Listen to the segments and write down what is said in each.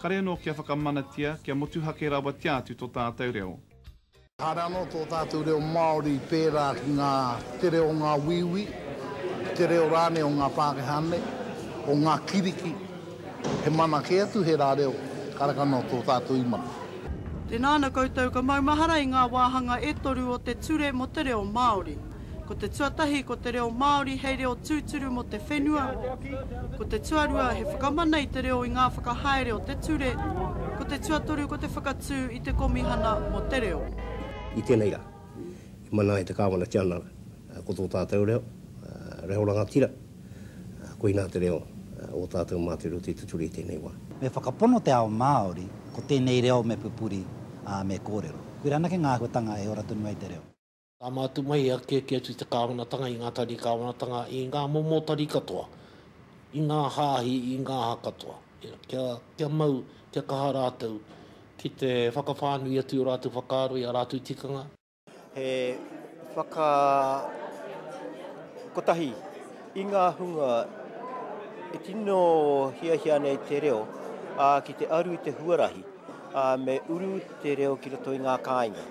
kare anō kia whakamanatia, kia motuhake rawatia atu tō tātou reo. Kāre anō tō tātou reo Māori pērā ki ngā tere o ngā wīwī, ki te reo rānei o ngā Pākehā nei, o ngā kiriki, he mana kē atu he rā reo, kāre anō tō tātou i mana. Tēnā ana koutou ka maumahara i ngā wāhanga e toru o te Ture mō te Reo Māori. Ko te tuatahi ko te reo Māori hei reo tūturu mō te whenua, ko te tuarua he whakamana i te reo i ngā whakahaere o te ture, ko te tuatoru ko te whakatū i te Komihana mō te Reo. I tēnei rā, i mana ai te Kāwana Tianara ko tō tātou reo, reo rangatira, koinā te reo o tātou mā te reo tē te ture i tēnei wā. Me whakapono te ao Māori, ko tēnei reo me pupuri, ā, me kōrero. Koirā anake ngā āhuatanga e ora tonu ai te reo. Ka mātu mai he akiaki atu i te Kāwanatanga, i ngā tari Kāwanatanga, i ngā momo tari katoa, i ngā hāhi, i ngā aha katoa, kia, kia mau, kia kaha rātou ki te whakawhānui atu i ō rātou whakaaro, i ā rātou tikanga. He whaka, kotahi, i ngā hunga e tino hiahia ana i te reo, ā, ki te aru i te huarahi, ā, me uru te reo ki roto i ngā kāinga.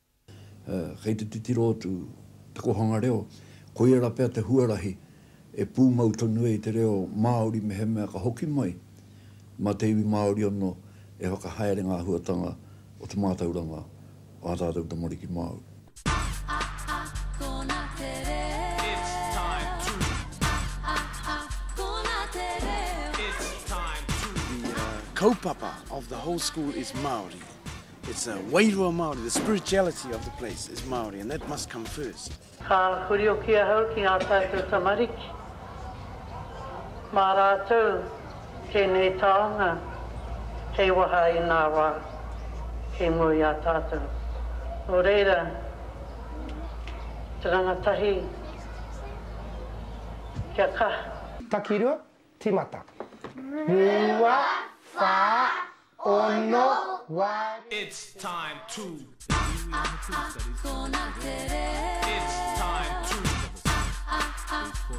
Kei te titiro atu te kōhanga reo, koia rā pea te huarahi e pūmau tonu ai te reo Māori mehemea ka hoki mai mā te iwi Māori anō e whakahaere ngā āhuatanga o te mātauranga o ā tātou tamariki Māori. The kaupapa of the whole school is Māori. It's a wairua Māori, the spirituality of the place is Māori and that must come first. Ka hurioki ahau ki ngā tātou tamariki, mā rātou tēnei taonga kei waha i ngā wā kei mua i a tātou. Nō reira, te rangatahi kia kaha. Takirua, timata. Rua, wha, Ono wari It's time to Kona te reo It's time to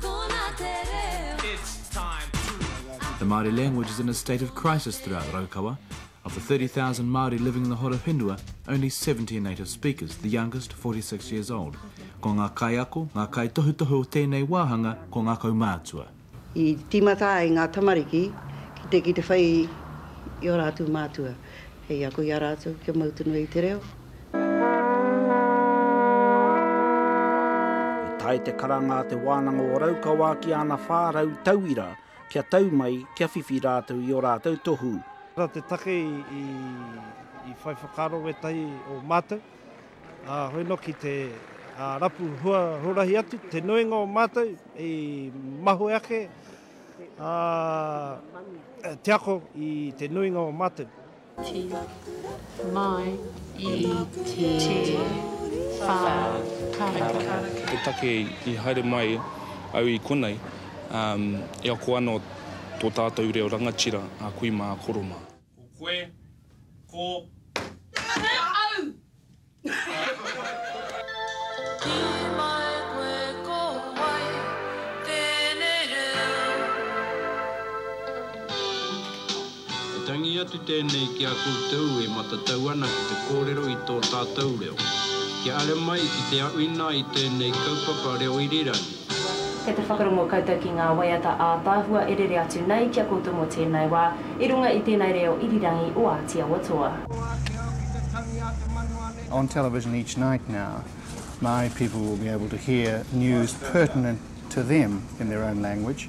Kona te reo It's time to The Māori language is in a state of crisis throughout Raukawa. Of the 30,000 Māori living in the Horowhenua, only 70 are native speakers, the youngest 46 years old. Ko ngā kaiako, ngā kaitohutohu o tēnei wāhanga ko ngā kaumātua. I tīmata ai ngā tamariki ki te ki te whai i ō rātou mātua hei ako i a rātou kia mau tonu ai te reo. I tae te karanga a Te Wānanga o Raukawa ki ana 400 tauira kia tau mai kia whiwhi rātou i ō rātou tohu. Nā te take i whai whakaaro wētahi o mātou. Ā, hoi noki te rapu huarahi atu, te nuinga o mātou i mahue ake, ā, te ako i te nuinga o mātou. Ti, mai, i, ti, wha, karaka. Te take i haere mai au i konei, ā, e ako ana tō tātou reo rangatira a kui mā, koro mā. Ko koe, ko. He au! E tangi atu tēnei ki a koutou e matatau ana ki te kōrero i tō tātou reo. Kia ara mai ki te aʻuina i tēnei kaupapa reo irirangi. Kei te whakarongo koutou ki ngā waiata ātaahua e rere atu nei ki a koutou mō tēnei wā, i runga i tēnei reo irirangi o Āti Awa Toa. On television each night now, Māori people will be able to hear news pertinent to them in their own language.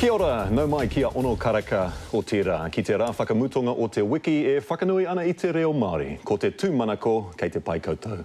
Kia ora, nau mai ki a Ono Karaka. Otirā, ki te rā whakamutonga o te wiki e whakanui ana i te reo Māori. Ko te tūmanako, kei te pai koutou.